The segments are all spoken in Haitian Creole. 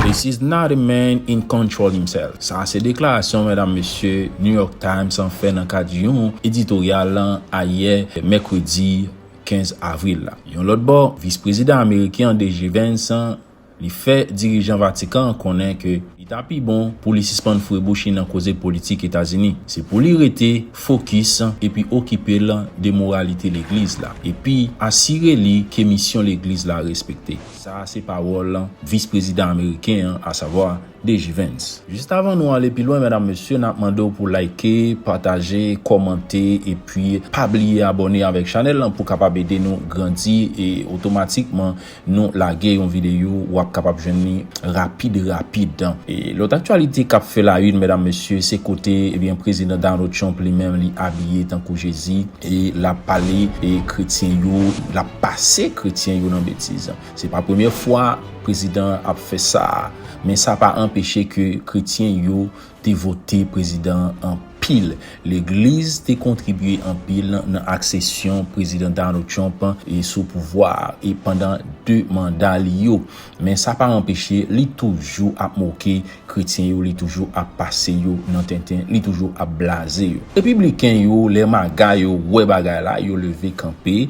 This is not a man in control himself Sa a se deklarasyon medam mesye New York Times an fè nan kad yon editoryal ayè mèkredi 15 avril la. Yon lòt bò, vis prezidan ameriken an DG Vance, Li fè dirijan Vatikan an konnen ke li ta pi bon pou li sispann foure bouch li nan koze politik Etazini. Se pou li rete fokis epi okipe l de moralite Legliz la, epi asire li ke misyon Legliz la respekte. Sa a se pawòl Vis Prezidan Ameriken an, asavwa DG Vance. Jis avan nou ale pi lwen medam mesye nap mande w pou like, pataje, kòmante epi pa bliye abòne avèk chanèl lan pou kapab ede nou grandi e otomatikman Nou lage yon videyo wap kapab jwenn li rapid rapid. Lòt aktyalite kap fè la une medam mesye se kote ebyen prezidan Donald Trump li menm li abiye tankou Jezi e lap pale kretyen yo lap pase kretyen yo nan betiz. Se pa premye fwa prezidan an ap fè sa men sa pa anpeche ke kretyen yo te vote prezidan an pil. Legliz te kontribye anpil nan aksesyon Prezidan Donald Trump sou pouvwa a e pandan 2 manda li yo. Men sa pa anpeche li toujou ap moke kretyen yo, li toujou ap pase yo nan tenten, li toujou ap blaze yo. Repibliken yo, lè maga yo wè bagay la, yo leve kanpe.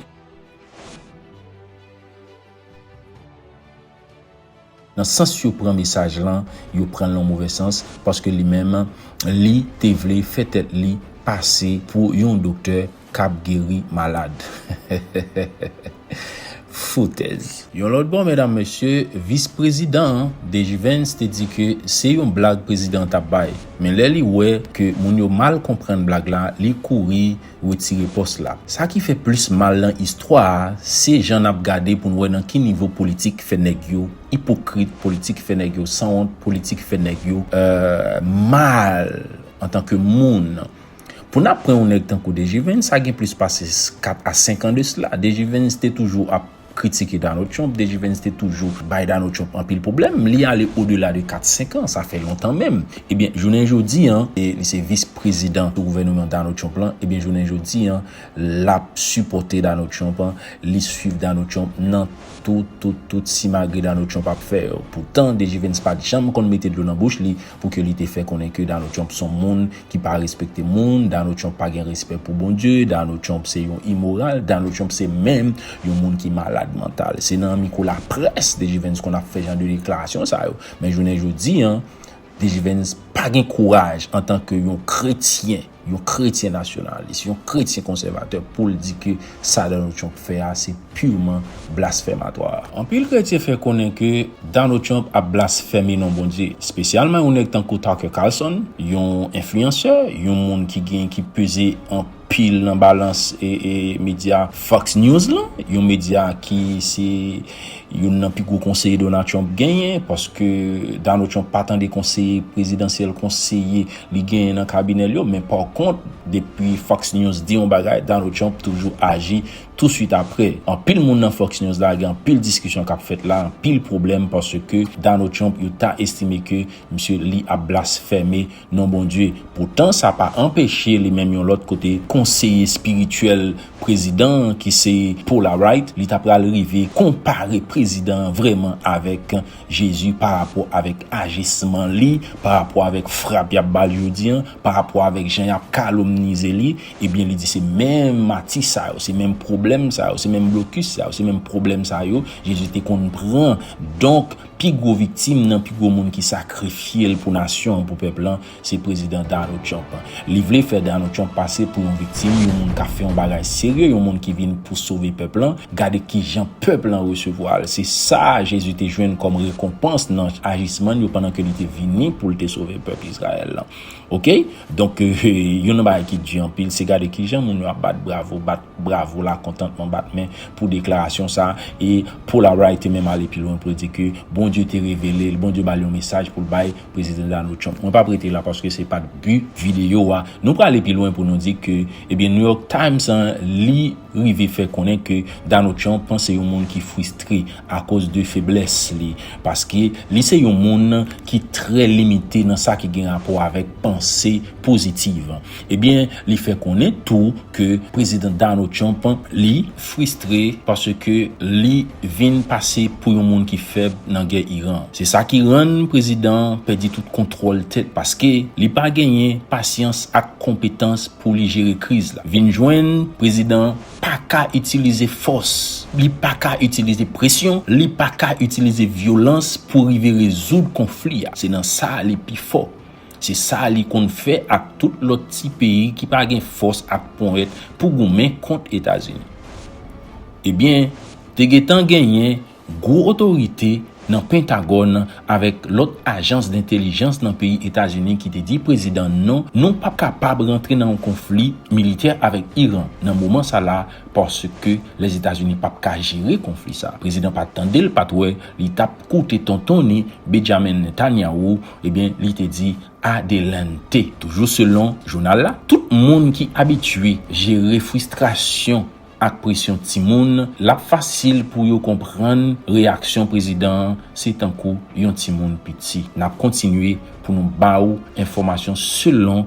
Nan sans yo pran mesaj lan, yo pran l nan move sans, paske li menm, li te vle fè tèt li pase pou yon doktè k ap geri malad. Foutèz! Yon lòt bò, medam mesye, vis prezidan an, Dejivens, te di ke se yon blag prezidan an t ap bay. Men lè li wè ke moun yo mal konprann blag la, li kouri, retire pòs la. Sa ki fè plis mal nan istwa a se jan nap gade poun wè nan ki nivo politik fè nèg yo ipokrit, politik fè nèg yo sanwont, politik fè nèg yo mal antan ke moun. Pou nap pran yon nèg tankou Dejivens sa gen plis pase 4 a 5 an de sla, Dejivens te toujou ap. kritike Donald Trump, DG Vance te toujou bay Donald Trump anpil pwoblèm, li ale o dela de 4, 5 an, sa fè lontan menm. Ebyen, jounen jodi an, li se vis prezidan sou gouvèneman Donald Trump lan, ebyen jounen jodi an, lap sipòte Donald Trump, li swiv Donald Trump nan tout, tout, tout simagri Donald Trump ap fè yo. Poutan, DG Vance pat janm konn mete dlo nan bouch li, pou ke li te fè konnen ke Donald Trump son moun ki pa respekte moun, Donald Trump pa gen respè pou Bondye, Donald Trump se yon imoral, Donald Trump se menm yon moun ki malad mantal. Se nan miko laprès DG Vens konn ap fè jan de deklarasyon sa yo. Men jounen jodi an, DG Vens pa gen kouraj antan ke yon kretyen, yon kretyen nasyonalis, yon kretyen konsèvatè pou l di ke sa Donald Trump fè a se purman blasfèmatwa. Anpil kretyen fè konnen ke Donald Trump ap blasfème non Bondye, spesyalman yon nèg tankou Tucker Carlson, yon enfliyansè, yon moun ki gen, ki peze anpil nan balans medya Fox News lan, yon medya ki se youn nan pi gwo konseye Donald Trump genyen, paske Donald Trump pa tande konseye prezidansyèl, konseye. li genyen nan kabinè l yo men pa kont depi Fox News di yon bagay Donald Trump toujou aji tou swit aprè anpil moun nan Fox News la gen anpil diskisyon kap fèt la anpil pwoblèm paske Donald Trump yo ta estime ke misye li ap blasfème non Bondye poutan sa pa anpeche li menm yon lòt kote konseye espirityèl prezidan an ki se Paula Wright li ta pral rive konpare prezidan an vrèman avèk. Jezi pa rapò avèk ajisman li, pa rapò avèk frap y ap ba l jodi an, pa rapò avèk jan y ap kalomnize li, ebyen li di se menm mati sa yo, se menm pwoblèm sa yo, se menm blokis sa yo, se menm pwoblèm sa yo Jezi te konn pran. Donk, pi gwo viktim nan, pi gwo moun ki sakrifye l pou nasyon an, pou pèp lan, Se Prezidan Donald Trump. Li vle fè Donald Trump pase pou yon viktim, yon moun k ap fè yon bagay serye, yon moun ki vin pou sove pèp lan. Gade ki jan pèp lan resevwa l. Se sa a Jezi te jwenn kòm rekonpans nan ajisman l yo pandan ke li te vini pou l te sove pèp Izrayèl lan. Oke? Donk, youn nan bagay ki di anpil, se gade ki jan moun yo ap bat bravo, bat bravo lakontantman, bat men pou deklarasyon sa a. E Paul Albright te menm ale pi lwen pou l di ke Bondye te revele l, Bondye ba l yon mesaj pou l bay. Prezidan Donald Trump. Mwen pap rete la paske se pat bi videyo a. Nou prale pi lwen pou nou di ke ebyen New York Times an li rive fè konnen ke Donald Trump an se yon moun ki fristre akoz de feblès li. Paske li se yon moun ki trè limite nan sa ki gen rapò avèk panse pozitiv. Ebyen li fè konnen tou ke Prezidan Donald Trump li fristre paske li vin pase pou yon moun ki fèb nan gè Iran. Se sa ki rann prezidan an pèdi tout kontwòl tèt paske li pa genyen pasyans ak konpetans pou li jere kriz la. Vin jwenn prezidan an paka itilize fòs, li paka itilize presyon, li paka itilize vyolans pou rive rezoud konfli a. Se nan sa li pi fò. Se sa li konn fè ak tout lòt ti peyi ki pa gen fòs ak ponyèt pou goumen kont Etazini. Ebyen, te gentan genyen gwo otorite nan Pentagòn avèk lòt ajans dentelijans nan peyi Etazini ki te di prezidan non, nou pap kapab rantre nan yon konfli militè avèk Iran nan moman sa la paske Lèzetazini pap ka jere konfli sa. Prezidan pa tande l pat wè li tap koute tontonne Benjamin Netanyahu Ebyen, li te di Adelante. Toujou selon jounal la, tout moun ki abitye jere fristrasyon ak presyon timoun, l ap fasil pou yo konprann reyaksyon prezidan an se tankou yon timoun piti. N ap kontinye pou nou ba ou enfòmasyon selon.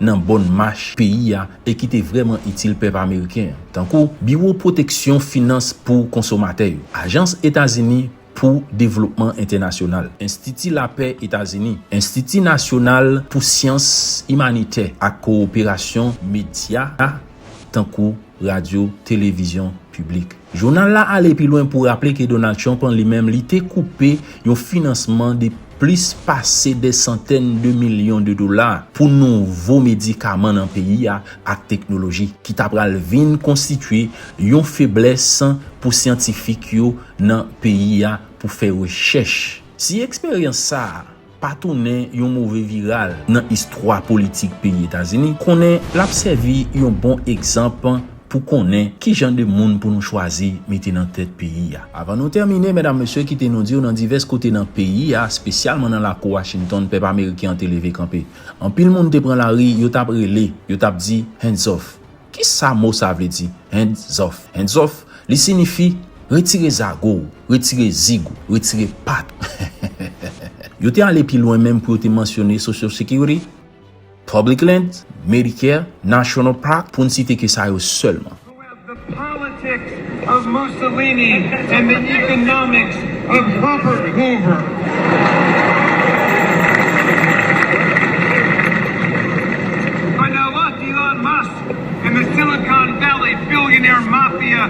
nan bòn mach peyi a e ki te vrèman itil pèp ameriken an, tankou Biwo Pwoteksyon Finans pou Konsomatè yo, Ajans Etazini pou Devlopman Entènasyonal, Enstiti Lapè Etazini, Enstiti Nasyonal pou Syans Imanitè ak Kowoperasyon, medya tankou radyo, televizyon piblik. Jounal la ale pi lwen pou raple ke Donald Trump lan li menm li te koupe yon finansman de plis pase dè santèn de milyon de dola pou nouvo medikaman nan peyi a ak teknoloji ki ta pral vin konstitye yon feblès pou syantifik yo nan peyi a pou fè rechèch. Si eksperyans sa a pa tounen yon move viral nan istwa politik peyi Etazini, konnen l ap sèvi yon bon egzanp pou konnen ki jan de moun pou nou chwazi mete nan tèt peyi a. Avan nou tèmine, medam mesye, kite nou di w nan divès kote nan peyi a, spesyalman nan lakou Washington, pèp ameriken an te leve kanpe. Anpil moun te pran lari, yo t ap rele, yo t ap di, Hands off! Kisa mo sa vle di hands off? Hands off, li sinifi Retire zago ou, retire zig ou, retire pat. Yo te ale pi lwen menm pou yo te mansyone Social Security, Public Lands, Medicare, National Park, pou n site ke sa yo sèlman. of Mussolini and the economics of Herbert Hoover. By the luck Elon Musk and the Silicon Valley billionaire mafia.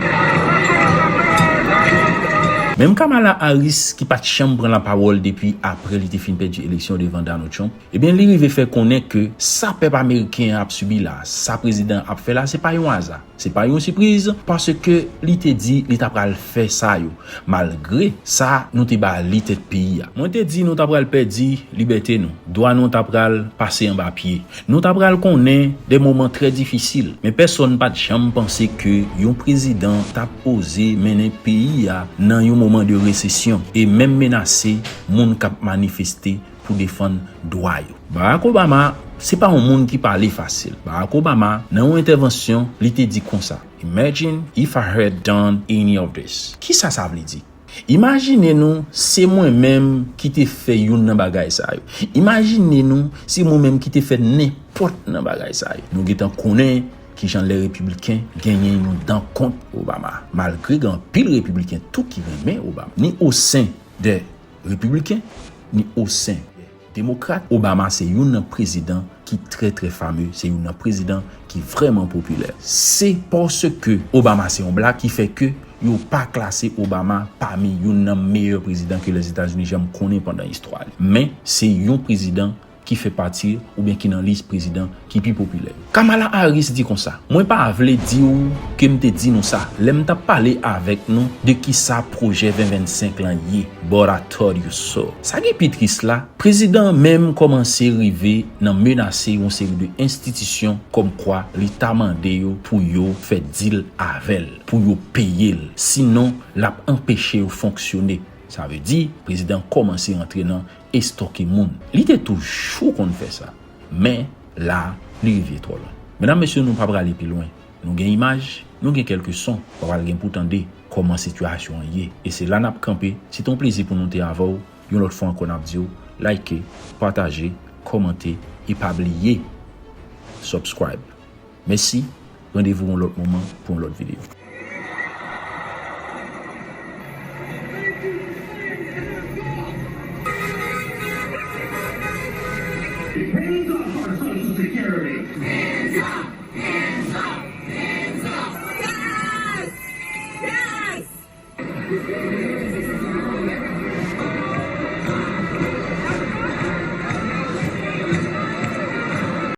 Menm Kamala Harris ki pat janm pran la pawòl depi aprè li te fin pèdi eleksyon devan Donald Trump, ebyen li rive fè konnen ke sa pèp ameriken an ap sibi la, sa prezidan an ap fè la se pa yon aza. Se pa yon sipriz, paske li te di li ta pral fè sa yo, malgre sa nou te ba li tèt peyi a. Mwen te di nou ta pral pèdi libète nou, dwa nou ta pral pase anba pye, nou ta pral konnen de moman trè difisil, men pèsonn pa t janm panse ke yon prezidan t ap oze mennen peyi a nan yon moman de resesyon e menm menase moun k ap manifeste pou defann dwa yo. Barack Obama se pa yon moun ki pale fasil. Barack Obama nan yon entèvansyon li te di konsa, Imagine if I had done any of this. Kisa sa vle di? Imajine nou se mwen menm ki te fè youn nan bagay sa yo. Imajine nou se mwen menm ki te fè nenpòt nan bagay sa yo. Nou gentan konnen kijan lè Repibliken genyen yon dan kont Obama, malgre gen anpil Repibliken tou ki renmen Obama, ni osen de. Repibliken, ni osen de Demokrat, Obama se youn nan prezidan ki trè trè fame, se youn nan prezidan ki vrèman popilè. Se paske Obama se yon Black ki fè ke yo pa klase Obama pami youn nan meyè prezidan ke Lèzetazini janm konnen pandan istwa li. Men, se yon prezidan ki fè pati oubyen ki nan lis prezidan ki pi popilè yo. Kamala Harris di konsa, Mwen pa vle di ou ke m te di nou sa lè m t ap pale avèk nou de kisa pwojè 2025 lan ye, but I told you so. Sa ki pi tris la, prezidan an menm kòmanse rive nan menase yon seri de enstitisyon kòmkwa li ta mande yo pou yo fè deal avè l, pou yo peye l, sinon l ap anpeche yo fonksyone. Sa vle di, prezidan an kòmanse rantre nan. estoke moun. Li te toujou konn fè sa. Men, la, li rive twò lwen. Medam, mesye, nou pa prale pi lwen. Nou gen imaj, nou gen kèlke son, pa pral gen pou tande kòman sitiyasyon an ye. E se la n ap kanpe. Se te yon plezi pou nou te avè w. Yon lòt fwa ankò n ap di w, like, pataje, kòmante e pa bliye subscribe. Mèsi, randevou yon lòt moman pou yon lòt videyo.